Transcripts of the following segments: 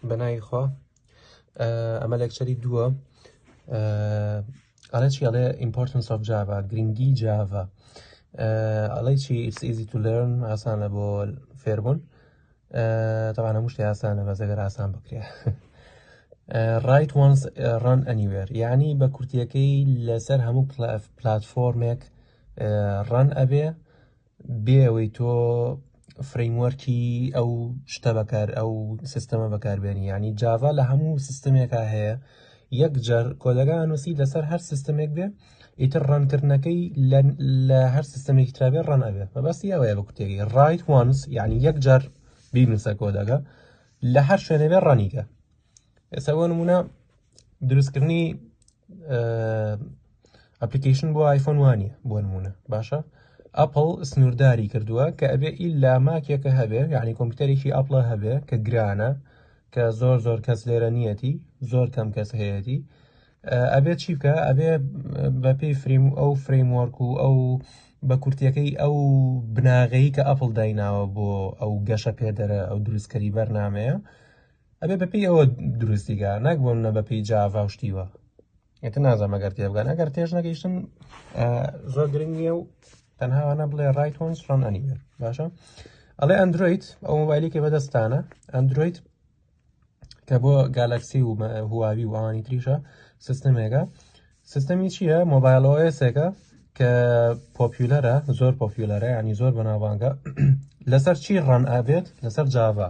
بەناوی خوا ئەمە لەکچەری دووە ئەڵێ چی ئەڵێ ئیمپۆرتنس ئۆف جاڤا گرنگی جاڤا ئەڵی چی ئیس ئیزی تو لێرن ئاسانە بۆ فێربوون تەوانە هەموو شتێ ئاسانە بە زەگەر ئاسان بکرێ ڕایت وانس ڕان ئەنیوێر یعنی بە کورتیەکەی لەسەر هەموو پلاتفۆرمێک ڕان ئەبێ بێ ئەوەی تۆ فرەیموەرکی ئەو شتە بەکار ئەو سیستەمە بەکاربێنی ینی جاڤا لە هەموو سیستمێکا هەیە یەک جار کۆدەگا نووسی لەسەر هەر سیستمێک بێ ئیتر ڕەنکردنەکەی لە هەر سیستمێکی ترابێ ڕەن ئەبێ بەبستی ئەوەیە بە کوتێکی ڕایت وانس یعنی یەک جار بینوسە کۆدەگە لە هەر شوێنەبێ ڕەنیکە ئێستا بۆ نمونە دروستکردنی ئەپلیکیشن بۆ آیفۆن وانە بۆ نمونە باشە ئەپل سنوورداری کردووە کە ئەبێ ئیلا ماکێکە هەبێ یعنی کۆمپیوتەرێکی ئەپڵە هەبێ کە گرانە کە زۆر زۆر کەس لێرە نیەتی زۆر کەم کەس هەیەتی ئەبێت چی بکە ئەبێ بە پێی فریم ئەو فرەیمۆرک و ئەو بە کورتەکەی ئەو بناغەیی کە ئەپل دایناوە بۆ ئەو گەشە پێدەرە ئەو دروستکەری بەرنمەیە ئەبێ بەپی ئەوە دروستیگە ناک بۆم نە بەپی جاڤا و شتیوە ئێتە نازانم ئەگەر تێبگەن ئەگەر تێش نەگەیشتن زۆر گرنگ نیە و تەنهاوانە بڵێ ڕایت هۆنس ڕۆن ئەنیە باشە ئەڵێ ئەندروید ئەو موبایلێکی بەدەستانە ئەندروید کە بۆ گالکسی و هواوی و ئەوانی تریشە سیستمێکە سیستەمی چییە مۆبایلۆسێکە کە پۆپیولەرە زۆر پۆپیولەرە ینی زۆر بەناوانگە لەسەر چی ڕەن ئابێت لەسەر جاڤا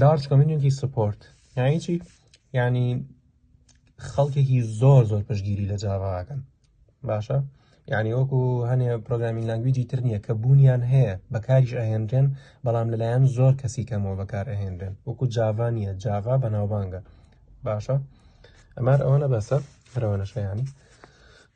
لارج کمیونیتی سپۆرت یعنی چی یعنی خەڵکێکی زۆر زۆر پشگیری لە جاڕاکەن باشە یعنی وەکو هەنێ پرۆگرامین لەنگویجی تر نییە کە بوونیان هەیە بەکاریش ئەهێنرێن بەڵام لەلایەن زۆر کەسی کەمەوە بەکار ئەهێنرێن وەکو جاڤا نییە جاڤا بەناوبانگە باشە ئەمار ئەوەنە بەسە هەرەوەنەشەیانی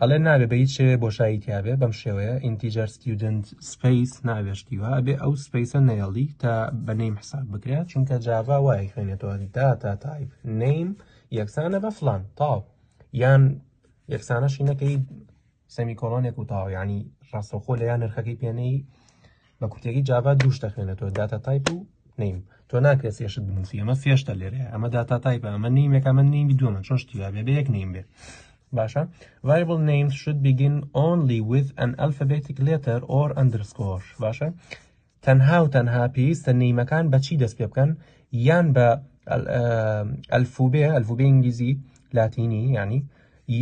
ئەڵێ نابێ بە هیچ شێوێ بۆشایی تیاابێ بەم شێوەیە ئینتیجار ستیودنت سپیس نابێ شتیوا ئەبێ ئەو سپیسە نێڵی تا بە نیم حساب بکرێت چونکە جاڤا وای خوێنێتەوە داتا تایپ نیم یەکسانە بە فلان تاو یان یەکسانەشی نەکەی سەمی کۆڵۆنێک و تاویانی ڕاستەخۆ لە یان نرخەکەی پێنەی بە کورتێکی جاڤا دوو شتە خوێنێتەوە داتا تایپ و نیم تۆ ناکرێت سێشت بنووسی ئەمە سێشتە لێرەیە ئەمە داتا تایپ ئەمە نیمێک ئەمە نیمی دووەمە چۆن شتی بێ بە یەک نیم بێ باشە variable names should begin only with an alphabetic letter or underscore باشە تەنها و تەنها پێویستە نیمەکان بەچی دەست پێ بکەن یان بە ئەلفوبێ ئەلفوبێ ئینگلیزی لاتینی ینی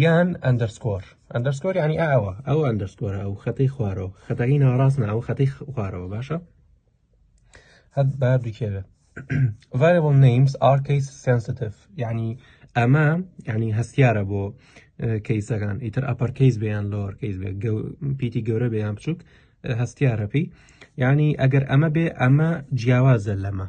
یان ئەندەرسکۆر ئەندەرسکۆر یعنی ئەوە ئەو ئەندەرسکۆرە ئەو خەتەی خوارەوە خەتەکەی ناڕاست ناوە خەتەی خوارەوە باشە هەر با دوکێوێ variable names are case sensitive یعنی ئەمە ینی هەستیارە بۆ کەیسەکان ئیتر ئەپەر کەیس بیان لۆر کەیس بێ پیتی گەورە بیان بچووک هەستیارەپی ینی ئەگەر ئەمە بێ ئەمە جیاوازە لەمە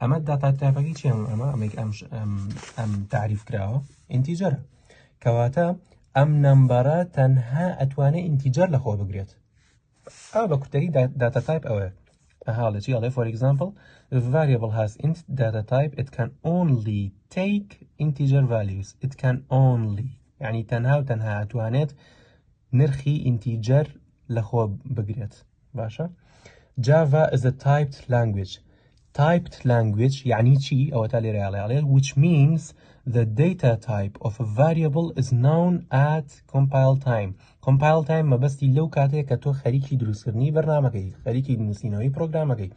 ئەمە داتا تایپەکەی چێن ئەمە ئەمە ئەم ئەم تعریف کراوە ئینتیجەرە کەواتە ئەم نمبەرە تەنها ئەتوانێت ئینتیجەر لەخۆ بگرێت ئا بە کوتەری داتا تایپ ئەوەیە هاڵە چی ئەڵێ فۆر ئەگزامپل variable has int data type it can only take integer values it can only یعنی تەنها و تەنها ئەتوانێت نرخی ئینتیجەر لەخۆ بگرێت باشە جاڤا is a typed language typed language یعنی چی ئەوە تا لێرە یاڵێ which means the data type of a variable is known at compile time compile time مەبەستی لەو کاتێک کە تۆ خەریکی دروستکردنی بەرنمەکەی خەریکی نووسینەوەی پرۆگرامەکەی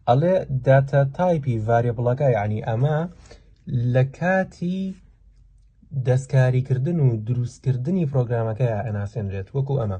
ئەڵێ داتا تایپی ڤارێبڵەکە یعنی ئەمە لە کاتی دەستکاریکردن و دروستکردنی پرۆگرامەکە ئەناسێنرێت وەکو ئەمە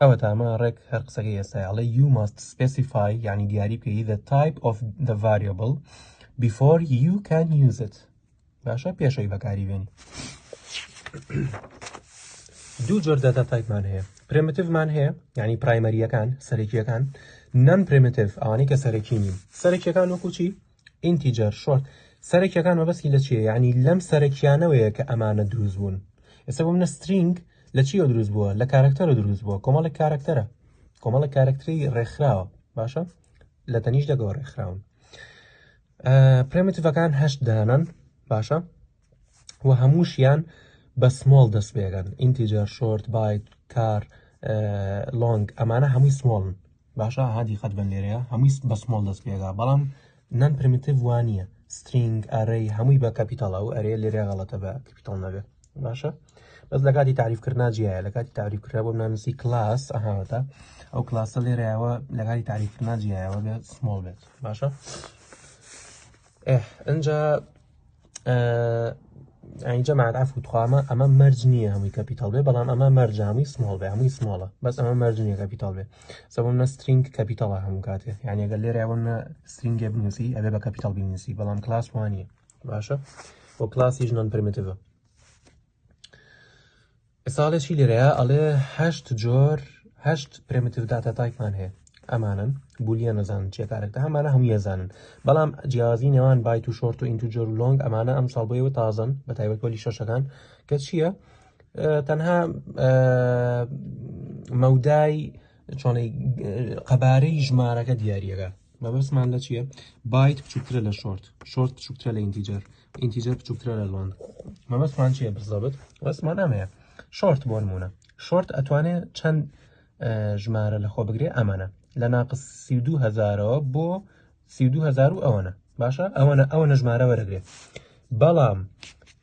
ئەوە تامە ڕێک هەر قسەکەی ئێستا ئەڵێ you must specify یعنی دیاری بکەی the type of the variable before you can use it باشە پێشەوەی بەکاری بێن دوو جۆر داتا تایپمان هەیە پرمتیڤمان هەیە یعنی پرایمەریەکان سەرەکیەکان نەم پرمتیڤ ئەوانەی کە سەرەکیین سەرەکیەکان وەکوچی ئینتیجەر شۆرت سەرەکیەکان مەبەستی لە چیە یعنی لەم سەرەکیانەوەیە کە ئەمانە دروست بوون ئێستا بۆ منە سترینگ لە چیەوە دروست بووە لە کارکتەرە دروست بووە کۆمەڵی کارکتەرە کۆمەڵی کارکتری ڕێکخراوە باشە لە تەنیش دەگەوە ڕێکخراون پرمتڤەکان هەشت دانن باشە و هەمووشیان بە سمۆڵ دەست بێگەن ئینتیجەر شۆرت بایت کار لۆنگ ئەمانە هەمووی سمۆڵن باشە هادی قەت بن لێرەیە هەمووی بە سمۆڵ دەست پێگا بەڵام نان پرمیتیڤ وانە سترینگ ئەرەی هەمووی بە کەپیتال ئەو ئەرێ لێرە غەڵەتە بە کەپیتال نەبێت باشە بەس لە کاتی تعریفکردنا جیایە لە کاتی تعریفکرا بۆ نانسی کلاس ئەهاوەتە ئەو کلاسە لێرەوە لە کاتی تعریفکردنا جیایەوە بێت سمۆڵ بێت باشە ئەجا ئەجا ماداف و توخوامە ئەمە مەرج نییە هەمووی کەپیتال بێ بەڵام ئەمە مەرجامی سمۆڵ بێ هەمووی سمۆڵە بەس ئەمە مەرجنیە کەپیتال بێ سەبم نە سترینگ کەپیتاڵە هەموو کاتێ یانەگە لێراوە نە سترینگێ بنووسی ئەبێ بە کەپیتال بنووسی بەڵام کلاس وانە باشە بۆ کلاسی ژنان پرمتەوە ساڵێکی لێرەیە ئەڵێ هەشت جۆر هەشت پرمتیو داتا تایفان هەیە ئەمانن بولیە نەزانن چیە کارێکدا ئەمانە هەموو یەزانن بەڵام جیازی نێوان بای و شۆرت و ئینتو جۆر لۆنگ ئەمانە ئەم ساڵ بۆیەوە تازن بە تایبەت بۆلی شەشەکان کە چییە تەنها مەودای چۆنەی قەبارەی ژمارەکە دیارریەکە مەبەستمان لە چییە بایت بچووکترە لە شۆرت شۆرت بچووکترە لە ئینتیجەر ئینتیجەر بچووکترە لە لۆنگ مەبەستمان چییە بزەبت وەسمان ئەمەیە شۆرت بۆ نمونە شۆرت ئەتوانێت چەند ژمارە لە خۆ بگرێ ئەمانە لە ناقس سی و دوهزارەوە بۆ سی و دوهزار و ئەوەنە باشە ئەوەنە ئەوەنە ژمارە وەرەگرێت بەڵام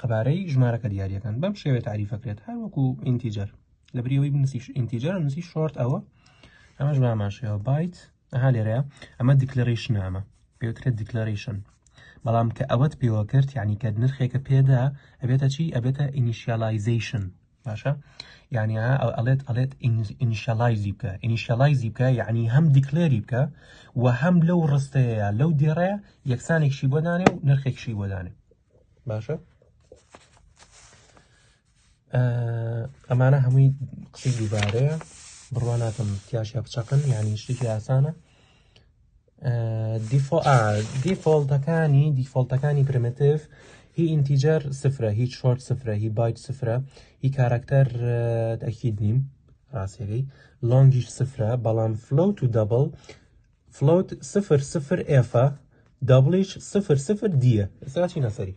قەبارەی ژمارەکە دیارەکان بەم شێوێ تعریفەکرێت هەر وەکو ئینتیجەر لە بریەوەی بنووسی ئینتیجەر نووسی شۆرت ئەوە ئەمەش باماشەوە بایت ئەها لێرەیە ئەمە دیکلەرەیشن ئەمە پێوترێت دیکلەرەیشن بەڵام کە ئەوەت پێوە کرد یعنی کە نرخێکە پێدا ئەبێتە چی ئەبێتە ئینیشیالایزیشن باشە یانی ئەڵێت ئەڵێت ئینیشەڵایزی بکە ئینیشەڵایزی بکە یعنی هەم دیکلێری بکە و هەم لەو ڕستەیە لەو دێڕێ یەکسانێکشی بۆ دانێ و نرخێکشی بۆ دانێ باشە ئەمانە هەمووی قسەی دووبارەیە بڕواناتم تیاشە بچەقن یعنی شتێکی ئاسانە دیفۆڵتەکانی دیفۆڵتەکانی پرمتف هی ئینتیجەر سفرە هیچ شۆرت سفرە هی بایت سفرە هی کارکتەر ئەکید نیم ڕاستەکەی لۆنگیش سفرە بەڵام فلوت و دەبڵ فلوت سفر سفر ئێفە دەبڵیش سفر سفر دیە ئێستا چی نەسەری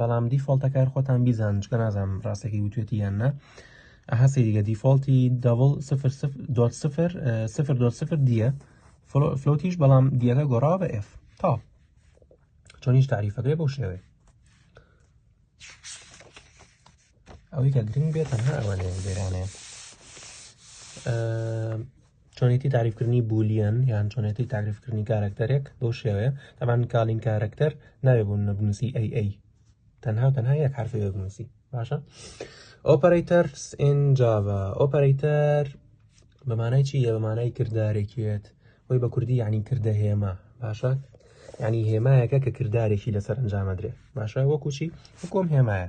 بەڵام دیفۆڵتەکار خۆتان بیزان چکە نازانم ڕاستەکەی وتێتی یان نا ئەها سەیریگە دیفۆڵتی دەڵ سفر دۆت سفر سفر دۆت سفر دیە فلوتیش بەڵام دیەکە گۆڕاوە بە ئف تا چۆنیش تعریفەکەی بۆ شێوێ ئەوەی کە گرنگ بێت تەنها ئەوانەیە لێرانەیە چۆنێتی تعریفکردنی بولیەن یان چۆنێتی تعریفکردنی کارەکتەرێک بۆ شێوەیە تەمان کالین کارەکتەر ناوێ بوون نەبنووسی ئەی ئەی تەنها و تەنها یەک حرفی بێ بنووسی باشە ئۆپەرەیتەر ئنجاوە ئۆپەرەیتەر بەمانای چی یە بەمانای کردارێکێت وی بە کوردی یعنی کردە هێمە باشە ینی هێمایەکە کە کردارێکی لەسەر ئەنجامەدرێ باشە وەکوچی حکۆم هێمایە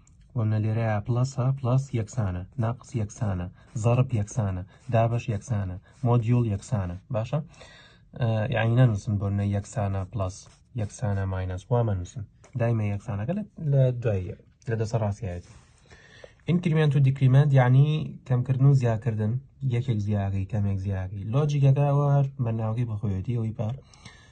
وەمنە لێرەیا پڵەسە پڵەس یەکسانە ناقس یەکسانە زەڕب یەکسانە دابش یەکسانە مۆدیول یەکسانە باشە یعنی نەنووسن بۆ نە یەکسانە پلس یەکسانە ماینەس وا مەنووسن دایمە یەکسانەکە لە دوایە لە دەسە ڕاستایەت ئینکریمنت و دیکریمنت یعنی کەمکردن و زیاکردن یەکێک زیاگەی کەمێک زیاگەی لۆجیکەکە ئەوە هەر بەناوەکەی بەخۆیەتی ئەوی پار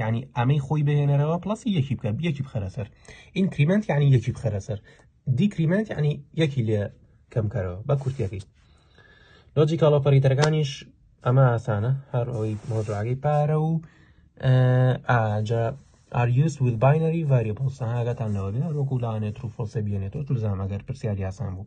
یعنی ئەمەی خۆی بهێنەرەوە پلسی یەکی بکە یەکی بخەرە سەر ئینکریمنت یعنی یەکی بخەرە سەر دیکریمنت یعنی یەکی لێ کەمکەرەوە بە کورتەکەی لۆجیکال ئۆپەریتەرەکانیش ئەمە ئاسانە هەر ئەوەی مۆجراگەی پارە و ئاجا are used with binary variables هاگەتان لەوەێ وەکو لاانێت و فۆسە بێنێتەوە تلزام ئەگەر پرسیاری یاسان بوو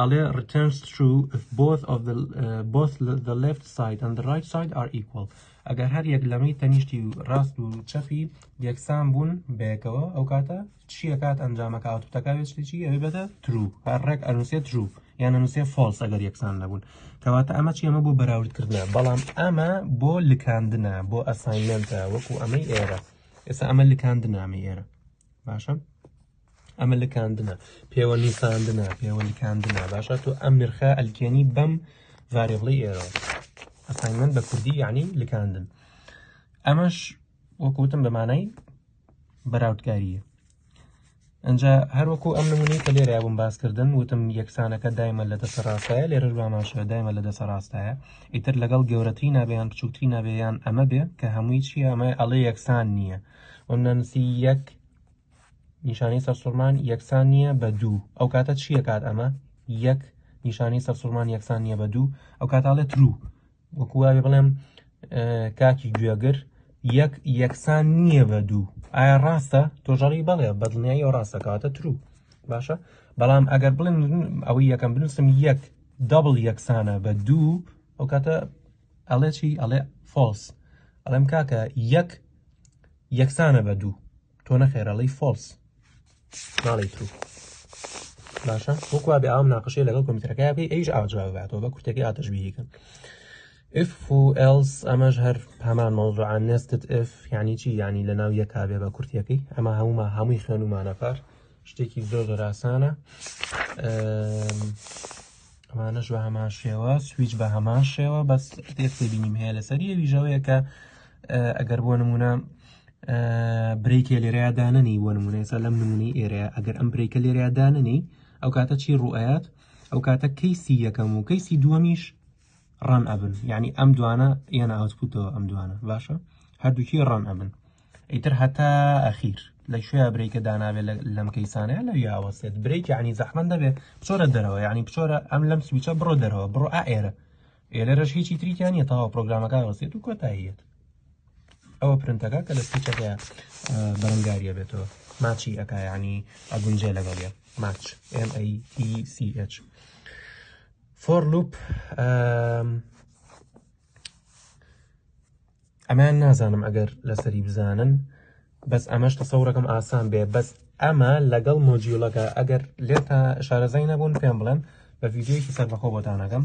ئەڵێ returns true if both of the both the left side and the right side are equal ئەگەر هەر یەک لەمەی تەنیشتی و ڕاست و چەپی یەکسان بوون بەیەکەوە ئەو کاتە چیە کات ئەنجامەکە ئاوتوتەکەوێت شتێکی ئەوی بەدە ترو هەر ڕێک ئەنووسێ ترو یان ئەنووسێ فۆلس ئەگەر یەکسان نەبوون کەواتە ئەمە چی ئەمە بۆ بەراوردکردە بەڵام ئەمە بۆ لکاندنە بۆ ئەساینمنتە وەکو ئەمەی ئێرە ئێستا ئەمە لکاندنامە ئێرە باشە ئەمە لکاندنە پێوە نیساندنە پێوە لکاندنە باشە تۆ ئەم نرخە ئەلکێنی بەم ڤارێبڵی ئێرە ئەسانگمن بە کوردی یعنی لکاندن ئەمەش وەکوتم بە مانای بەراودکاریە ئەجا هەروەکو ئەم نمونی کە لێرە بووم باسکردن وتم یەکسانەکە دایمە لە دەسە ڕاستایە لێرە باماشە دایمە لە دەسە ڕاستایە ئیتر لەگەڵ گەورەتری نابیان بچووکتری نابێیان ئەمە بێ کە هەمووی چیە ئەمە ئەڵێ یەکسان نییە ئەم نانوسی یەک نیشانەی سەرسوڕمان یەکسان نییە بە دوو ئەو کاتە چییە کات ئەمە یەک نیشانەی سەرسوڕمان یەکسان نییە بە دوو ئەو کاتاڵێ ترو وەکوواێ بڵێم کاکی گوێگر یەک یەکسان نییە بە دوو ئایا ڕاستە تۆژەڕی بەڵێ بەدڵنیایی ئەو ڕاستەکاتە ترو باشە بەڵام ئەگەر بڵێن ئەوەی یەکەم بنووسم یەک دەبڵ یەکسانە بە دوو ئەو کاتە ئەڵێ چی ئەڵێ فۆڵس ئەڵێم کاکە یەک یەکسانە بە دوو تۆ نەخێرەڵی فۆڵس ناڵی ترو باشە وەکوا بێ ئام ناقشەیە لەگەڵ کۆمپیوتەرەکە بکەی ئەیش ئاجاواتەوە بە کورتەکەی ئاتەشبیهیکەن اف و ئەلس ئەمەش هەر هەمان مەوزوعان نێستت اف یعنی چی یعنی لە ناو یەکا بێ بە کورتەکەی ئەمە هەموما هەمووی خوێنمانە پار شتێکی زۆر زۆراسانە ئەمانەش بە هەمان شێوە سویچ بە هەمان شێوە بەس تێک تێبینیم هەیە لەسەر یەویژەوەیە کە ئەگەر بۆ نمونە برێکێ لێرەیە دانەنی بۆ نمونە ئێستا لەم نمونەی ئێرەیە ئەگەر ئەم برێکە لێرەیە دانەنی ئەو کاتە چی ڕوئەت ئەو کاتە کەیسی یەکەم و کەیسی دووەمیش ڕان ئەبن یعنی ئەم دوانە یەنە ئاوتپوتەوە ئەم دوانە باشە هەردووکی ڕان ئەبن ئیتر هەتا ئەخیر لە کوێیا برێکە داناوێ لەم کەیسانەیە لە یاوەسێت برێک عنی زەحمەن دەبێ بچۆرە دەرەوە ینی بچۆرە ئەم لەم سویچە بڕۆ دەرەوە بڕۆ ئائێرە ئێرەش هیچی تریکیانە تاوا پرۆگرامەکە وەسێت و کۆتاییەت ئەوە پرنتەکە کە لە سویچەکە بەرەنگاریە بێتەوە ماچی ئەکا ینی ئەگونجێ لەگەڵ یە ماچ MATCH فۆر لوپ ئەمەیان نازانم ئەگەر لەسەری بزانن بەس ئەمەش تەسەورەکەم ئاسان بێ بەس ئەمە لەگەڵ مۆجیولەکە ئەگەر لێتا شارەزای نەبوون پێم بڵێن بە ڤیددیویکی سەربەخۆ بۆتانەکەم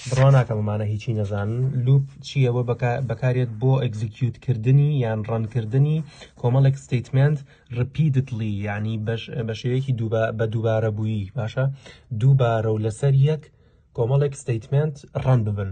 بڕواناکەممانە هیچی نەزانن لوپ چییە بۆ بەکارێت بۆ ئەگزیکیوت کردنی یان ڕەنکردنی کۆمەڵێک ستیتمنت ڕپیدتلی ینی بە شێوەیەکی بە دووبارە بووی باشە دووبارە و لەسەر یەک کۆمەڵێک ستیتمنت ڕەن ببن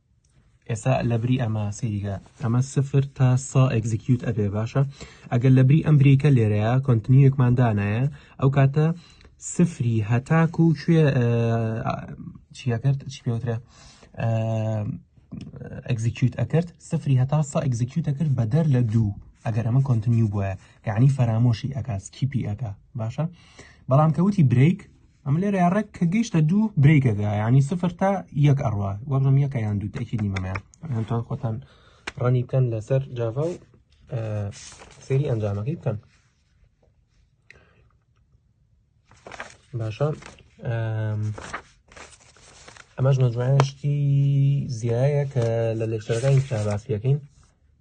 ئێستا لەبری ئەمە سەیریگە ئەمە سفر تا سا ئەگزیکیوت ئەبێ باشە ئەگەر لەبری ئەم بریکە لێرەیە کۆنتنیوێکمان دانایە ئەو کاتە سفری هەتاک و کوێ چیەکرد چی پێوترە ئەگزیکیوت ئەکرد سفری هەتا سا ئەگزیکیوت ئەکرد بەدەر لە دوو ئەگەر ئەمە کۆنتنیو بووە یعنی فەرامۆشی ئەکا سکیپی ئەکا باشە بەڵام کەوتی برێک ئەم لێرە ڕێک کە گەیشتە دوو برێکەکە ینی سفر تا یەک ئەڕوا وەڵم یەکە یان دوو تاکی نیمەمەیان هەتان خۆتان ڕەنی بکەن لەسەر جاڤ و سری ئەنجامەکەی بکەن باشە ئەمەش نەجوانشتی زیایە کە لە لێکتەرەکانی تا باس پێەکەین